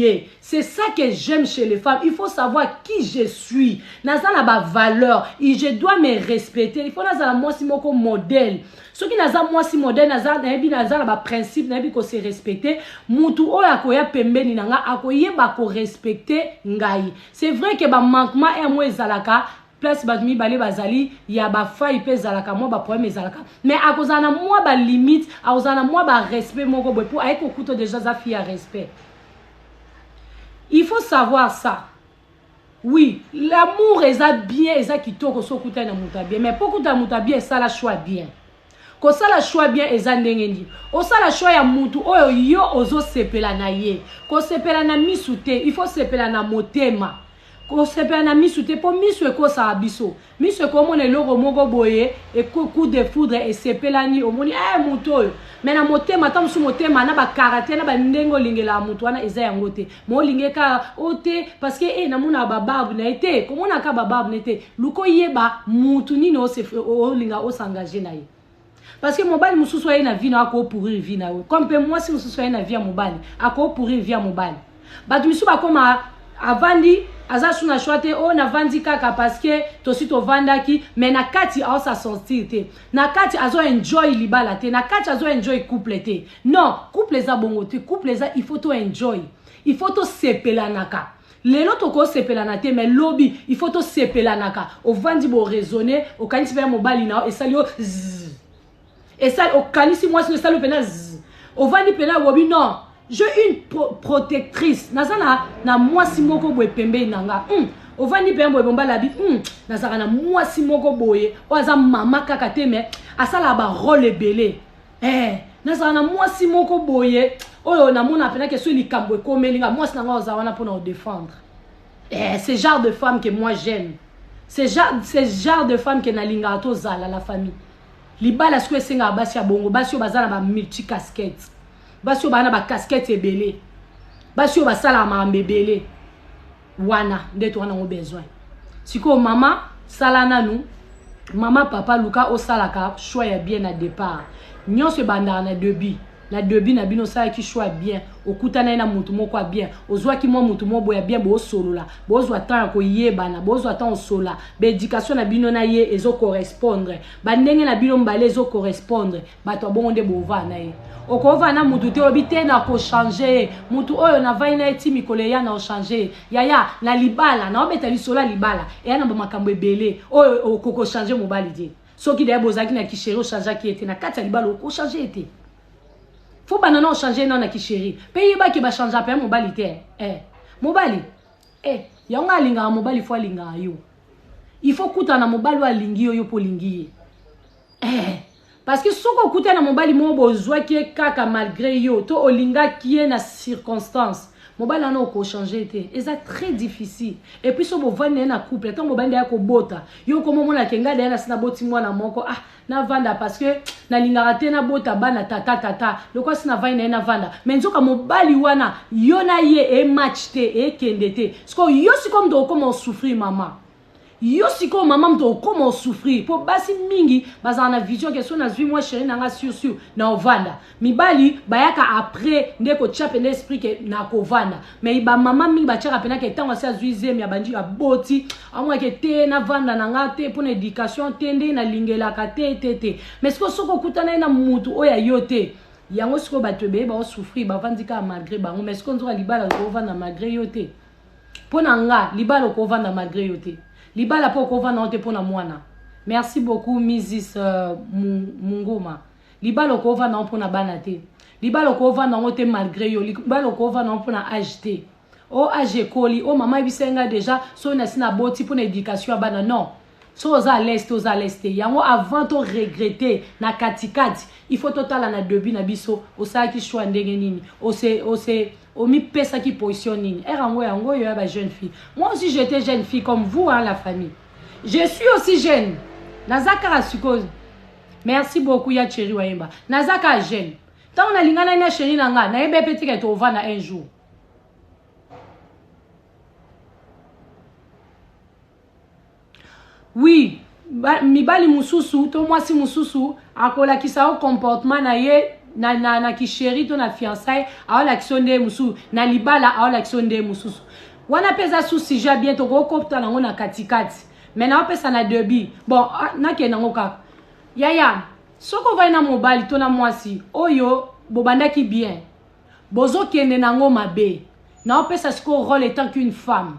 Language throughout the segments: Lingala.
ye c'est ça que j'aime chez les femmes il faut savoir qui je suis naza na ba valeur je dois me respecter il faut nazala mwasi moko modèle soki naza mwasi modèle naza nayebi naza na ba principe nayebi ko se respecter mutu oyo akoya pembeni na nga akoyeba ko respecter ngai c'est vrai que ba manquement ya mwa ezalaka place bato mibale bazali ya bafai mpe ezalaka mwa baproblème ezalaka mais akozala na mwa balimite akozala na mwa barespect moko boye mpo aye kokuta deja aza fille ya respect il faut savoir ça oui l'amour eza bien eza kitoko so okutani na moto ya bien mais mpo okutana moto ya bien esala choix bien Kosala choix bien eza ndenge nini? Osala choix ya mutu oyo yo ozo sepela na ye. Ko sepela na misu te, il faut sepela na motema. Ko sepela na misu te po misu ekosaka biso. Misu eko mona eloko moko boye, eko coup de foudre esepelani, omoni eh mutu oyo. Mais na motema, tango mosusu motema na ba caractère na ba ndenge olingelaka mutu wana eza yango te. molinge ka o oh, te parce que e eh, namonaka babarbe na ye te komonaka babarbe na ye te luka oyeba mutu nini olinga osengage na ye parce que mobali mosusu aye na vi na akopourire vi na yo comme mpe mwasi mosusu aye na vi ya mobali akopourire vi ya mobali bato misusu bakoma avandi aza su na shwa te oyo oh, navandi kaka parceke tosi tovandaki mai na kati aosa sortir te na kati azo enjoy libala te na kati azo enjoy couple te Non couple eza bongo te couple eza il faut to enjoy il faut tosepelanaka lelo tokosepelana te mais lobi il faut tosepelanaka ovandi bo raisonne okanisi mpenza mobali na yo esali yo zzz. esali okanisi mwasi no esali yo mpenza zzz. ovandi mpenza obobi non je une pro protectrice naza na, na mwasi moko boye pembeni na nga mm. ovandi mpenza boye bombalabi mm. nazalaka na mwasi moko boye oyo aza mama kaka te mais asalaka barole ebele eh nazala na mwasi moko boye oyo namona pena ke soki likambo ekomeli nga mwasi na ngai oza wana mpona odefendre eh, ce genre de femme que moi j'aime ce genre, ce genre de femme que nalingaka tozala la famille libala sikoyo esengaka basi ya bongo basi oyo baza na bamulti casquette basi oyo baa na bacasquette ebele basi oyo basalaka makambo ebele wana nde toza nango besoin sikoyo mama sala nanu mama papa luka osalaka choix ya bien na départ nyonso ebandaka na debut na debut na bino osalaki choix ya bien okutanaki na motu moko ya bien ozwaki mwa motu moko boye ya bien bosolola bozwa temps ya koyebana bozwa temps osolola baéducation na bino na ye ezocorrespondre bandenge na bino mbale ezocorrespondre bato ya bongo nde bovaa na ye okovaa na motu te olobi te nakochange ye motu oyo navai na ye ti mikolo eya na ochange ye yaya na libala naobeta lisolo ya libala eya na bamakambo ebele oyo okokochange mobali te soki daya bozalaki na kisheri ochangeaki ye te na kati ya libala okochange ye te fo banda na ochange ye nao na kisheri mpe yebaki bachange mpe ya mobali te eh. mobali eh. yango alingaka mobali fo alingaka yo il faut kutana na mobali oyo alingi yo yo mpo olingi ye eh. Parce que soki okutani na mobali moko bozwaki ye kaka malgre yo to olingaki ye na circonstance mobali wana okochange te eza très difficile et puis so bovandi na ye na couple ntango bobandi ya kobota yo okoma omona ke ngai dayana si naboti mwana moko ah navanda parce que nalingaka te nabota bana tata tata lokola si navandi na ye navanda me nzoka mobali wana yo na ye ematch te ekende te sikoyo yo sikoyo moto okoma osouffrir mama yo sikoyo mama moto okoma osouffrir mpo basi mingi bazala na vision ke so nazwi mwa chéri na nga sur sur na ovanda mibali bayaka après nde kotya mpena esprit ke na kovanda mai bamama mingi batyaka mpena ke ntango asi azwi zemi abandi aboti amwa ke te navanda na nga te mpo na éducation te nde nalingelaka te te te mai sikoyo soki okutana ye na motu oyo ayo te yango sikoyo bato ebele baosouffrir bavandi kaka malgré bango mai sikoyo nzoka libala okovanda malgré yo te mpo na nga libala okovanda malgre yo te libala mpe okovanda yango te mpo na mwana merci beaucoup misis uh, mungoma libala okovanda yango mpo na bana te libala okovanda yango te malgre yo libala okovanda yango mpo na age te o oh, age ekoli o oh, mama yebisai ngai deja soki nasi naboti mpo na education ya bana non soki oza à l'aise te oza à l'aise te yango avant to regrette na katikati il faut totala na debut na biso osalaki choix ndenge nini ose ose omipesaki position nini ere yango yango oyo ya ba jeune fille moi aussi j'étais jeune fille comme vous hein, la famille je suis aussi jeune naza kaka sikoyo merci beaucoup ya cheri wayemba naza kaka jeune ntango nalinganaki na cheri na ngai nayebi mpe tika ete ovanda un jour Oui, ba, mibali mususu to mwasi mususu akolakisa yo comportement na ye na, na, na kisheri to na fiançaille aolakisa yo nde mosusu na libala aolakisa yo nde mosusu wana mpe eza sous sujet bien tokokopta nango na katikati me naopesa na debut bon ah, nakende yango kaka yaya soki ovai na mobali to na mwasi oyo bobandaki bien bozokende nango mabe naopesa sikoyo role etant qu'une femme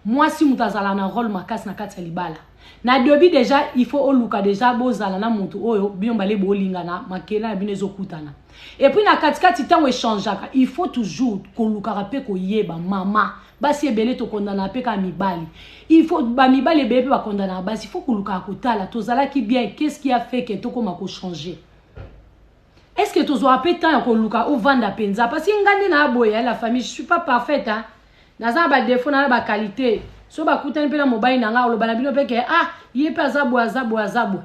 mwasi moto azala na role makasi na kati ya libala na debut deja il faut oluka deja bozala na moto oyo bino bale bolingana makela ya bino ezokutana epuis na katikati ntango echangeaka il faut toujours kolukaka mpe koyeba mama basi ebele tokondanaka mpe kaka mibali il faut bamibali ebele mpe bakondanaka basi il faut kolukaka kotala tozalaki bien qu'est ce qui a fait que tokoma kochange Est-ce que tozwaka pe temps ya koluka ou vanda penza parce que nga nde na boye hein, la famille je suis pas parfaite hein. Naza na ba défaut na ba qualité. So ba kutani pe na mobali na nga oloba na bino pe ke ah ye pe aza boye aza boye aza boye.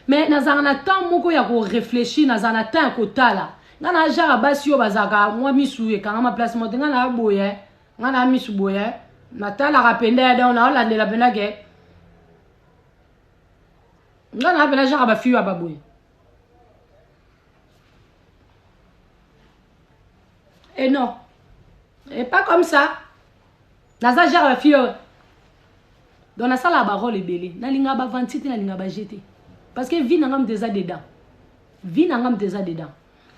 Mais nazalaka na temps moko ya ko réfléchir, nazalaka na temps ya kotala. Nga na jara basi yo bazaka mwa misu ekangama place mote nga na boye hein. Nga na misu boye hein. Natalaka penda ya donc na olandela penda ke nga na penda jara ba fiyo ya ba boye. Et eh non. Et eh, pas comme ça. Naza genre la fille. Euh, dans la salle à barol et belé. Na linga ba vantite, na linga ba jeté. Parce que vie n'angam déjà dedans. Vie n'angam déjà dedans.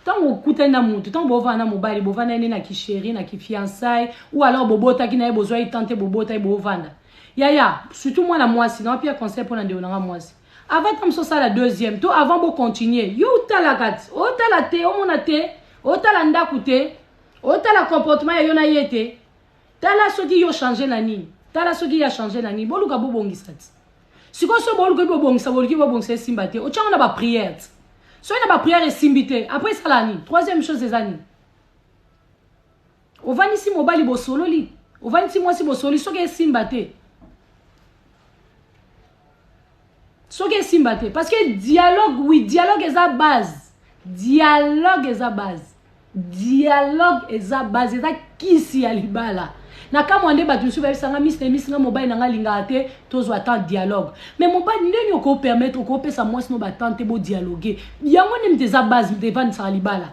Tant au kouta na moutou, tant bo va na mobali, bo va na na ki chéri, na ki fiançailles, ou alors bobo ta ki na besoin tenter bobo ta bobo vanda. Yaya, surtout moi la moisi, non pire conseil pour na de onanga moisi. avant ta mosusu asala deuxième to avant bo continuer yo otalaka otala te omona te otala ndako te otala comportement ya yo na ye te tala soki yo change na nini tala soki ye achange na nini boluka bobongisa ti sikoyo so boluki bobongisa boluki bobongisa esimba te otyango na bapriere ti soki na bapriere esimbi te après esala nini troisième chose eza nini ovandisi mobali bosololi ovandisi mwasi bosololi soki esimba te soki esimba te parce que dialogue oui dialogue eza base dialogue eza base dialogue eza base eza kisi ya libala na kamwa nde bato mosusu bayebisanga misi na misi nga mobali na nga alingaka te tozwa temps dialogue mais mobali ndeni okopermettre okopesa mwasi no batemp te bodialogue yango nde mite eza base mite evandisaka libala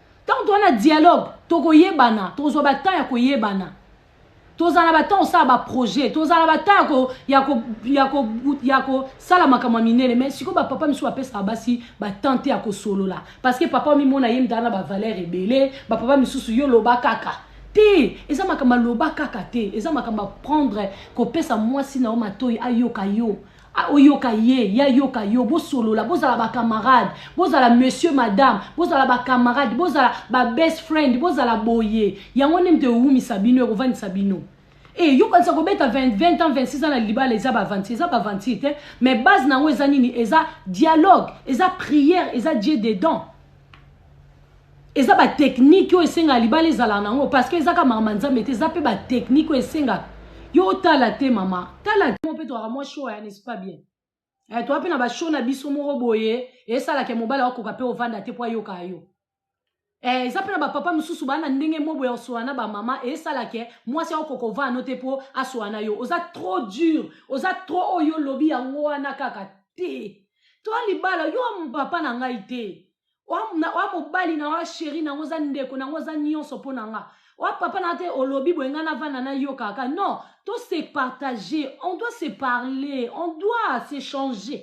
Temps toza na dialogue tokoyebana tokozwa ba temps ya koyebana tozala na batemp osala baprojet tozala na batemp ya kosala makambo ya minene mai sikoyo bapapa misusu bapesaka basi batemp te ya kosolola parce que papa omimona ye mtala na bavaleur ebele bapapa misusu yo loba kaka te eza makambo aloba kaka te eza makambo aprendre kopesa mwasi na yo matoi ayoka yo Ah, oyoka ye ye ayoka yo bosolola bozala bacamarade bozala monsieur madame bozala bacamarade bozala babest friend bozala boye yango nde moto ewumisa bino ekofandisa bino e eh, yokanisa kobeta 20, 20 ans 26 ans na libala eza bavanti eza bavanti te mais base na yango eza nini eza dialogue eza prière eza dieu dedans eza ba technique oyo esengaka libala ezalaka na yango parce que eza kaka makambo ya nzambe te eza mpe ba technique oyo esengaka yo otala te mama tala te mpe tozalaka mwa show ya n'est pas bien eh, toza mpe na bashow na biso moko boye esalaka ya mobali akoka mpe ovanda te mpo ayokaka yo eh, eza mpe na bapapa mosusu baa na ndenge moko boye osola na bamama esalaka mwasi akokoka ovanda no te mpo asola na yo oza trop dur oza trop oyo olobi yango wana kaka te toa libala yo papa na ngai te oa mobali na oa sheri nango oza ndeko nango oza nyonso mpo na nga oa papa na te olobi boye ngai navanda nayoka kaka non to se partager on doit se parler on doit se changer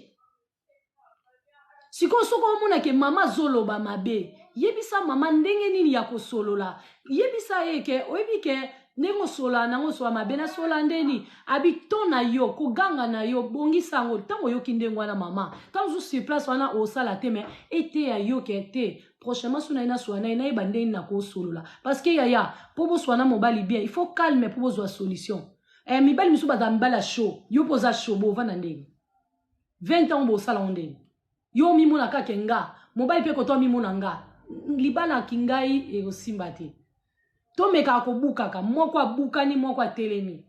sikoyo soki omona ke mama azoloba mabe yebisa mama ndenge nini ya kosolola yebisa ye ke oyebi ke ndenge osolola na yango osolola mabe nasolola nde nini abi to na yo koganga na yo bongisa yango ntango oyoki ndenge wana mama ntango ozu sur place wana osala te mai eteya yo ke te prochainement so na ye nasolola na ye nayeba nde nini nakosolola parce que yaya mpo bosolola na mobali bien il faut calme mpo bozwa solution eh, mibali misusu bazala mibali ya show yo mpo oza show bovanda ndenge 20 ans bosala yango ndenge yo omimona kaka ke nga mobali mpe koto amimona nga libala kingai ekosimba te tomekaka kobukaka moko abukani moko atelemi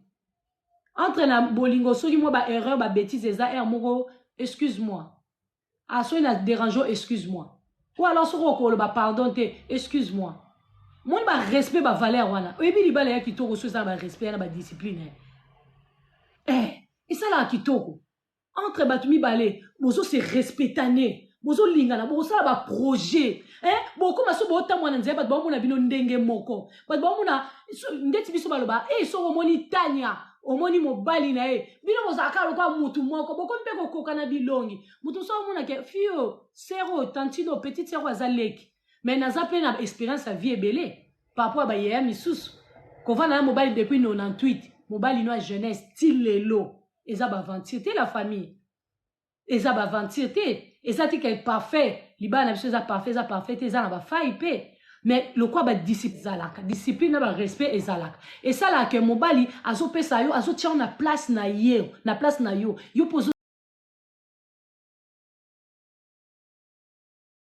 entre na bolingo soki mwa ba erreur ba betise eza heure moko excuse moi ah soki na derange excuse moi ou alors soki okoloba pardon te excuse moi moni barespect bavaleur wana oyebi libala ya kitoko so eza na barespect ya na badiscipline eh esalaka kitoko entre bato mibale bozo se respectane bozolingana bokosala baprojet eh? bokoma so bootambwa na nzela bato baomona bino ndenge moko bato baomona ndeti biso baloba e eh, soko omoni tania omoni mobali na ye bino bozalaka lokola motu moko bokomi mpe kokoka na bilongi motu mosusu omona ke fio sero tantino petite sero aza leki mais naza mpe na expérience ya vie ebele parapor ya bayaya misusu kovanda na mobali depuis 98 mobali no ya jeunesse ti lelo eza baventure te la famille eza baventure te eza tika eparfait libala na biso eza parfait eza parfait te eza na bafai mpe mais lokwa badiscipline ezalaka discipline na barespect ezalaka esalaka ke mobali azopesa yo azotia yo na place na ye na place na yo yo mpe